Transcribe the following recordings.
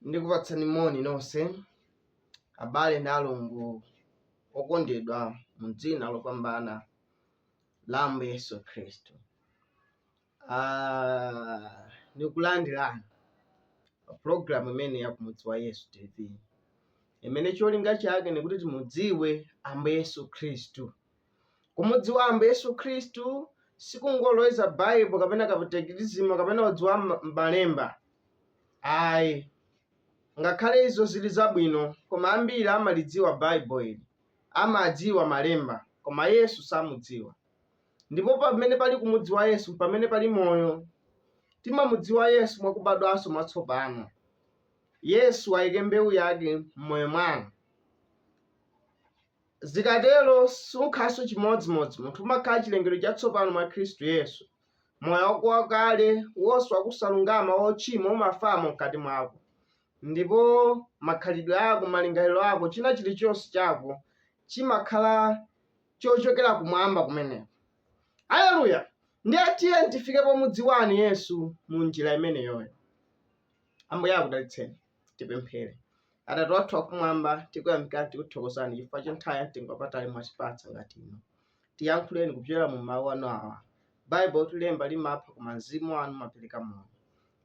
ndikupatsani moni nonse abale ndi alongo okondedwa mu dzina lopambana la ambuye yesu khristu Ah, ndikulandirani pa pulogalamu imene ya kumudziwa yesu tv imene cholinga chake ndikuti timudziwe ambuye yesu khristu Kumudziwa Ambuye Yesu Khristu sikungoloweza Bible kapena katekizima kapena udziwa ma- malemba. Ayi. Ngakhale izo zili zabwino, koma ambiri amalidziwa Bible ili. Amadziwa malemba, koma Yesu samudziwa. Ndipo pamene pali kumudziwa Yesu, pamene pali moyo. Timamudziwa Yesu mwa kubadwanso mwatsopano. Yesu ayike mbewu yake m'moyo mwanu. Zikatero sukhalanso chimodzimodzi. Munthu umakhala chilengedwe chatsopano mwa Khristu Yesu. Moyo wako wakale, wonse wa kusalungama, wochimwa umafamo mkati mwako. Ndipo makhalidwe ako, malingaliro ako, china chilichonse chako chimakhala chochokera kumwamba kumeneko. Haleluya! Ndiye tiyeni tifike pomudziwani Yesu mu njira imeneyoyo. Ambuye akudalitseni. Tipemphere. Atate athu akumwamba, tikuyamikani tikuthokozani chifukwa cha nthawi ya mtengo wapatali mwatipatsa ngati ino. Tiyankhuleni kupyolera mu mawu anu awa. Baibulo likuti lemba limapha koma mzimu wanu umapereka moyo.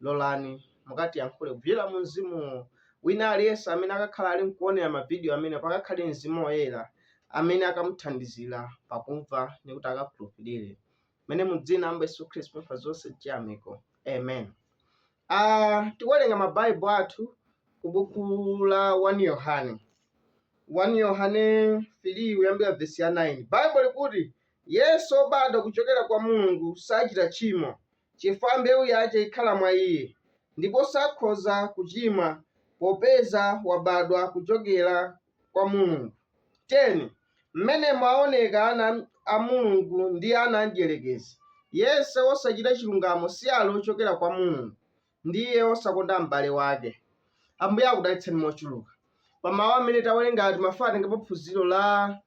Lolani mukatiyankhule kupyolera mu mzimuwo. Wina aliyense amene akakhala ali nkuonera mavidiyo amenewo pakakhale mzimu woyera amene akamuthandizira pakumva ndi kuti akakhulupirire. mene mu dzina ambuye yesu khristu pempha zonse chiyamiko amen uh, tikuwerenga mabaibo athu ku buku la 1 yohane 1 yohane 3 kuyambira vesi ya 9 baibo likuti yense obadwa kuchokera kwa mulungu sachita tchimo chifukwa mbewu yace ikhala mwa iye ndipo sakhoza kuchimwa popeza wabadwa kuchokera kwa mulungu 10 Mmenemo aoneka ana a Mulungu ndi ana a mdyerekezi, yense wosachita chilungamo si ali ochokera kwa Mulungu, ndi iye wosakonda m'bale wake. Ambuye akudalitseni mochuluka pa mawu amene tawerenga. Timafuna titengepo phunziro la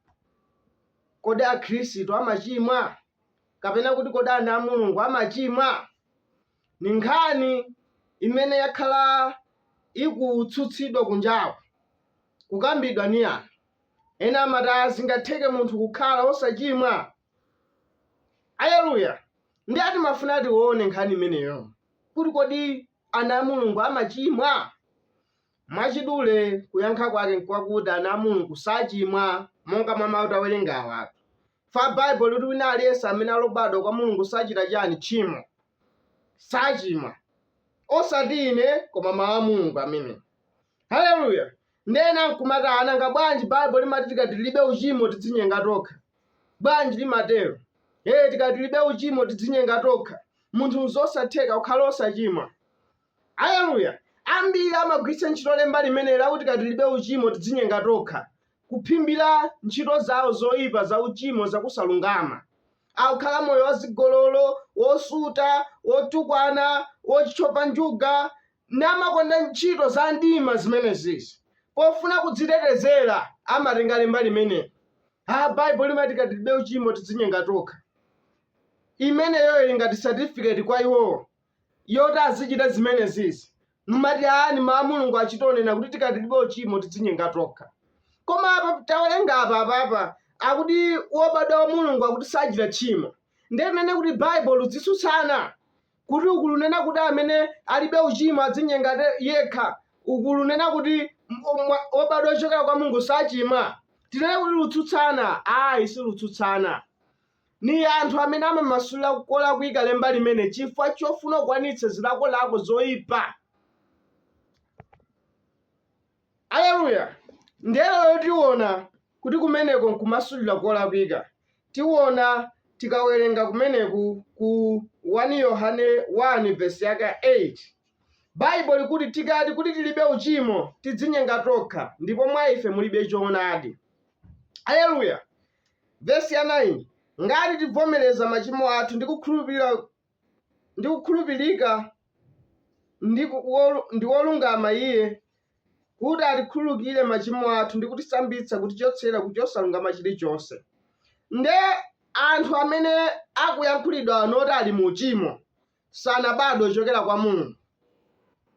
kodi akhristu amachimwa kapena kuti kodi ana a Mulungu amachimwa? Ni nkhani imene yakhala ikutsutsidwa kunjaku, kukambidwa ni anthu. Ena amati zingatheke munthu kukhala osachimwa? Aleluya! Ndiye timafuna tione nkhani imeneyo kuti kodi ana a Mulungu amachimwa? Mwachidule kuyankha kwake nkwakuti ana a Mulungu sachimwa monga mwa mau tawerengawa. Ifa Baibulo likuti wina aliyense amene ali obadwa kwa Mulungu sachita chani? Tchimo. Sachimwa. Osati ine koma mau a Mulungu amene. Aleluya! Ndiye ena n'kumati, "Ah, nanga bwanji Baibulo limati tikati tilibe uchimo tidzinyenga tokha? Bwanji limatero? Ee, tikati tilibe uchimo tidzinyenga tokha. munthu n'zosatheka kukhala osachimwa. Aleluya! Ambiri amagwiritsa ntchito lemba limeneli lakuti tikati tilibe uchimo tidzinyenga tokha, kuphimbira ntchito zawo zoipa zauchimo zakusalungama. Akukhala moyo wazigololo, wosuta, wotukwana, wotchova njuga, namakonda ntchito za mdima zimenezi. Pofuna kudzitetezera, amatenga lemba limeneli. Ha, Baibulo limati tikati tilibe uchimo tidzinyenga tokha. Imeneyo ili ngati certificate kwa iwowo yoti azichita zimenezizi. Nkumati aa ni mau a Mulungu achitonena kuti tikati tilibe uchimo tidzinyenga tokha. Koma apa tawerenga apa apapa akuti wobadwa wa Mulungu akuti sachita tchimo. Ndiye tinene kuti Baibulo likutsutsana. kuti uku lunena kuti amene alibe uchimo adzinyenga te- yekha uku lunena kuti m- omwa- obadwa ochokera kwa Mulungu sachimwa tinene kuti lutsutsana ayi silutsutsana ni anthu amene amamasulira kolakwika lemba limene chifukwa chofuna kukwanitsa zilakolako zoyipa Aleluya! Ndiye lero tiwona kuti kumeneko nkumasulira kolakwika. Tiwona tikawerenga kumeneku ku 1 Yohane 1 vesi yake 8. Baibulo likuti tikati kuti tilibe uchimo tidzinyenga tokha ndipo mwa ife mulibe choonadi. Aleluya! Vesi ya 9, Ngati tibvomereza machimo athu ndi kukhulupirira ndi kukhulupirika ndi, ku, wolu, ndi wolungama iye kuti atikhululukire machimo athu ndi kutisambitsa kutichotsera ku chosalungama chilichonse nde anthu amene akuyankhulidwa anoti ali mu uchimo sanabadwe ochokera kwa Mulungu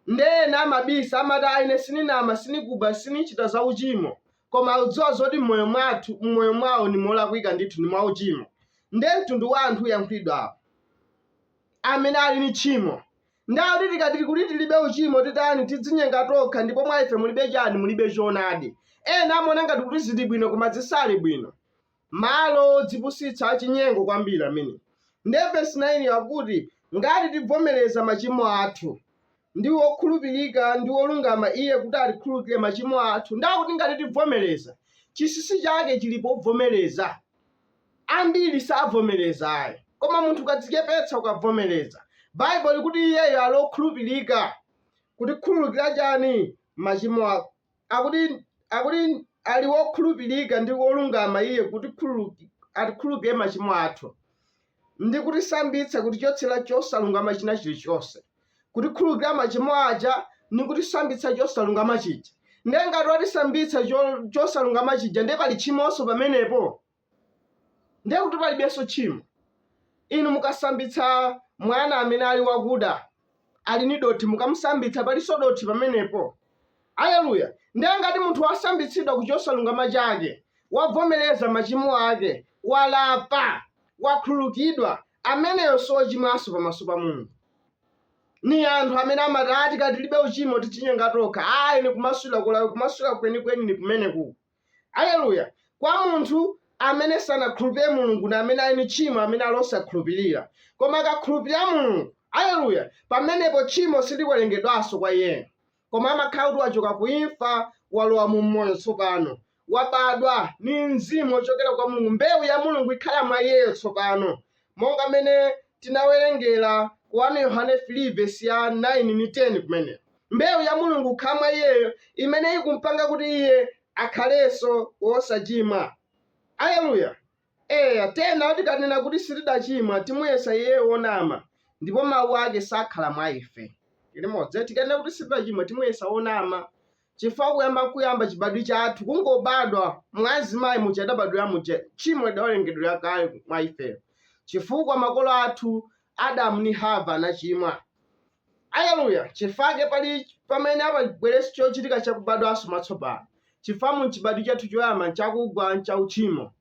nde ena amabisa amati aa ine sininama sinikuba sinichita za uchimo koma akudziwa zoti m'moyo mwathu m'moyo mwawo ndi molakwika ndithu ndi mwauchimo nde mtundu wa anthu uyankhulidwawo amene ali ni tchimo nde akuti tikati kuti tilibe uchimo titani tidzinyenga tokha ndipo mwa ife mulibe chani mulibe choonadi ena amaona ngati kuti zili bwino koma zisali bwino Malo odzipusitsa achinyengo kwambiri amenewo! Ndiye vesi 9 yo akuti, Ngati tibvomereza machimo athu, ndi wokhulupirika ndi wolungama Iye kuti atikhululukire machimo athu. Ndiye akuti ngati tibvomereza. Chinsinsi chake chili pobvomereza. Ambiri sabvomereza ayi. Koma munthu ukadzichepetsa, ukabvomereza, Baibulo likuti Iyeyo ali okhulupirika kutikhululukira chani? Machimo ako. akuti akuti ali wokhulupirika ndi wolungama iye kutikhululuki- atikhululukire machimo athu ndi kutisambitsa kutichotsera chosalungama china chilichonse kutikhululukira machimo aja ndi kutisambitsa chosalungama chija ndiye ngati watisambitsa cho- chosalungama chija ndiye pali tchimonso pamenepo ndiye kuti palibenso tchimo inu mukasambitsa mwana amene ali wakuda ali ni dothi mukamusambitsa palinso dothi pamenepo aleluya ndiye ngati munthu wasambitsidwa ku chosalungama chake wavomereza machimo ake walapa wakhululukidwa ameneyo sochimwanso pamaso pa mulungu ni anthu amene amati ati kati tilibe uchimo tichinyenga tokha ayi ni kumasulira kulawi kumasulira kwenikweni ni kumeneku Aleluya! Kwa munthu amene sanakhulupirire Mulungu na amene ali ni tchimo amene ali osakhulupirira. Koma akakhulupirira Mulungu, Aleluya, pamenepo tchimo siliwerengedwanso kwa iyeyo. Koma amakhala kuti wachoka ku imfa walowa mu moyo tsopano. Wabadwa ni mzimu ochokera kwa Mulungu. Mbewu ya Mulungu ikhala mwa iyeyo tsopano. monga mmene tinawerengera ku 1 yohane 3 vesi ya 9 ni 10 kumene mbewu ya mulungu ikhala mwa iyeyo imene ikumpanga kuti iye akhalenso wosachimwa aleluya eya tena tikanena kuti sitidachimwa timuyesa iyeyo wonama ndipo mawu ake sakhala mwa ife limodzi tikanena kuti sitidachimwa timuyesa wonama chifukwa kuyamba kuyamba chibadwi chathu kungobadwa mwa azimayi muja adabadwira muja tchimo lidawerengedwera kale mwa ifeyo chifukwa makolo athu adamu ni hava anachimwa aleluya chifake pali pamene apabweretsa chochitika chakubadwanso mwatsopano chifukwa mu chibadwi chathu choyamba nchakugwa nchauchimo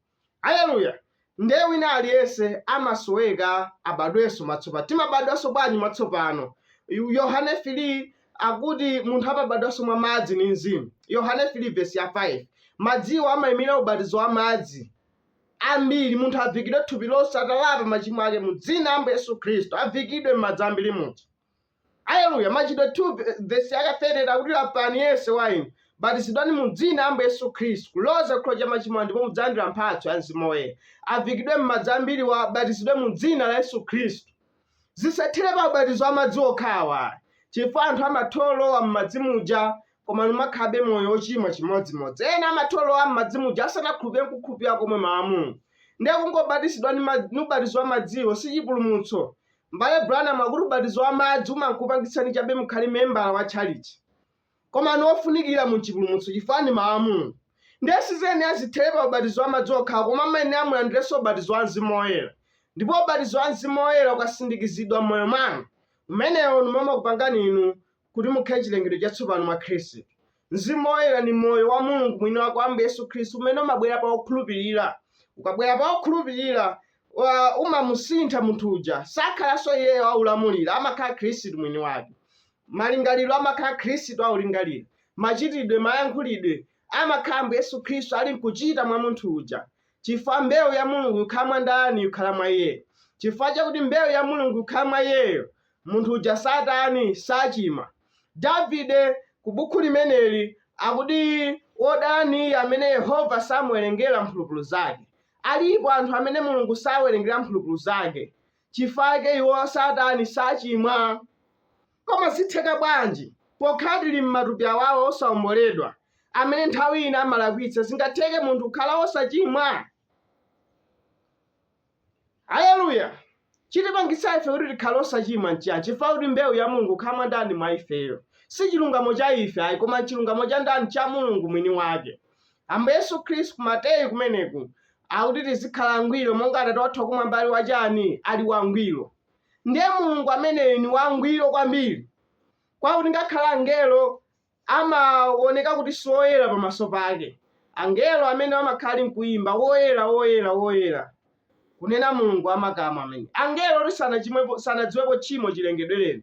Aleluya! Ndiye wina aliyense amasoweka abadwenso mwatsopano. Timabadwanso bwanji mwatsopano? Yohane 3 akuti munthu amabadwanso mwa madzi ni mzimu. Yohane 3 vesi ya 5. Madziwo amayimira ubatizo wa madzi ambiri. Munthu avikidwe thupi lonse atalapa machimo ake mu dzina la Ambuye Yesu Khristu. Avikidwe m'madzi ambiri munthu. Aleluya! Machitidwe 2 ve- vesi yaka 30 akuti lapani yense wa inu batizidwani mu dzina la Ambuye Yesu Khristu kuloza chikhululukiro cha machimo anu ndipo mudzalandira mphatso ya mzimu woyera. Avikidwe m'madzi ambiri, abatizidwe mu dzina la Yesu Khristu. Zisathere pa ubatizo wa madzi okhawo chifukwa anthu amatholowa m'madzi muja koma numakhabe moyo wochimwa chimodzimodzi. Ena amatholowa m'madzi muja asanakhulupirire kukhulupirira komwe mawu a Mulungu. Ndiye kungobatizidwa ndi ma- ni ubatizo wa madziwo si chipulumutso. M'bale Branham akuti ubatizo wa madzi umangokupangitsani chabe mukhale membala wa tchalitchi. Koma ni wofunikira mu chipulumutso chifukwa ni mawu a Mulungu. Ndiye siziyenera zithere pa ubatizo wa madzi okhawo koma amayenera mulandirenso ubatizo wa Mzimu Woyera. Ndipo ubatizo wa Mzimu Woyera ukasindikizidwa m'moyo mwanu, umenewo ni umene umakupangani inu kuti mukhale chilengedwe chatsopano mwa Khristu. Mzimu Woyera ndi moyo wa Mulungu mwini wake wa Ambuye Yesu Khristu umene umabwera pa okhulupirira. Ukabwera pa okhulupirira wa- umamusintha munthu uja, sakhalanso iyeyo aulamulira, amakhala Khristu mwini wake. Malingaliro amakhala Khristu aulingalira, machitidwe, mayankhulidwe amakhala Ambuye Yesu Khristu ali nkuchita mwa munthu uja. Chifukwa mbewu ya Mulungu ikhala mwa ndani ikhala mwa iye. Chifukwa chakuti mbewu ya Mulungu ikhala mwa iyeyo, munthu uja satani? Sachimwa. Davide ku bukhu limeneli akuti, Wodala ni iye amene Yehova samuwerengera mphulupulu zake. Alipo anthu amene Mulungu sawerengera mphulupulu zake chifukwa chake iwo satani? Sachimwa. Koma zitheka bwanji, pokhala tili m'matupi awawa osaomboledwa, amene nthawi ina amalakwitsa, zingatheke munthu kukhala wosachimwa? Aleluya! Chitipangitsa ife kuti tikhale osachimwa n'chiyani? Chifukwa kuti mbewu ya Mulungu ikhala mwa ndani? Mwa ifeyo. Si chilungamo cha ife ayi, koma n'chilungamo cha ndani? Cha Mulungu mwini wake. Ambuye Yesu Khristu, Mateyu kumeneku, akuti tizikhala angwiro monga Atate wathu wakumwamba ali wachani? Ali wangwiro. Ndiye Mulungu ameneyu ni wangwiro kwambiri kwakuti ngakhale angelo amawoneka kuti siwoyera pamaso pake. Angelo amene amakhala ali nkuimba, Woyera, woyera, woyera, kunena Mulungu wa makamu amene. Angelo oti sanachimwepo, sanadziwepo tchimo chilengedwereni.